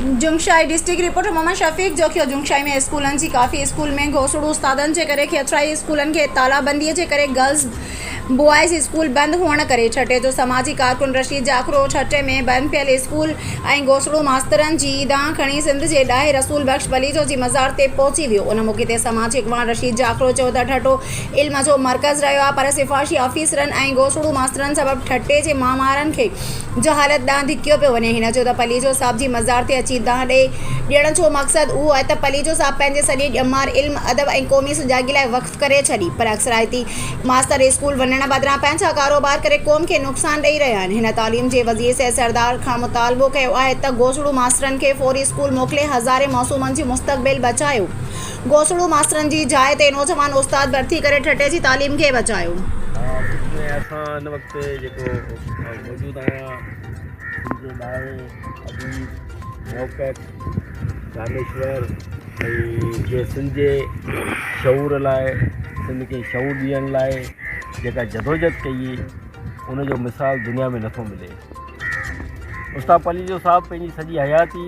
Jungshahi, district reporter Muhammad Shafiq جوکيو، جنگشاهي ۾ اسڪولن جي ڪافي اسڪول ۾ گوسڙو استادن جي ڪري کيترائي اسڪولن کي تالابندي جي ڪري گرلز بوائز اسڪول بند هئڻ ڪري ٺٽي جو سماجي ڪارڪن رشيد جاکرو ٺٽي ۾ بند پيل اسڪول ۽ گوسڙو ماسترن جي دانهن کڻي سنڌ جي ڏاهي رسول بخش پليجو جي مزار تي پهچي ويو ان موقعي تي سماجي اڳواڻ رشيد جاکرو چيو ته ٺٽو علم جو مرڪز رهيو آهي پر سفارشي آفيسرن ۽ گوسڙو ماسترن سبب ٺٽي جي مامارن کي جو حالت ڏانهن ڌڪيو پيو وڃي. هن چيو ته پليجو صاحب جي مزار تي اچي دانهن ڏئي. ڏيڻ جو مقصد اهو آهي ته پليجو صاحب پنهنجي سڄي ڄمار علم، ادب ۽ قومي سجاڳي لاء وقف ڪري ڇڏي. پر اڪثرائتي ماستر اسڪول وڃڻ بدران پنهنجا ڪاروبار ڪري قوم کي نقصان ڏئي رهيا آهن. هن تعليم جي وزير سيد سردار کان مطالبو ڪيو آهي ته گوسڙو ماسترن کي فوري اسڪول موڪلي هزارين معصومن جي مستقبل بچايو. گوسڙو ماسترن جي جاء تي نوجوان استاد ڀرتي ڪري ٺٽي جي تعليم کي بچايو. اتي جيڪو موجود آهيان ان جي لاء ابي موقف دانشور ۽ جي سنڌ جي شعور لاء سنڌ کي شعور ڏيڻ لاء جيڪا جدوجھد ڪئي ان جو مثال دنيا ۾ نٿو ملي استاد پليجو صاحب پنهنجي سڄي حياتي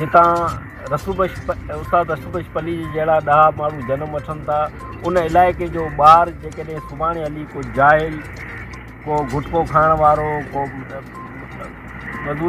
جتان رسول بخش استاد رسول بخش پليجي جهڙا ڏاها ماڻهو جنم وٺن ٿا ان علائقي جو ٻار جيڪڏهن سڀاڻي هلي ڪو جاهل ڪو گٽڪو کائڻ وارو ڪو مزوري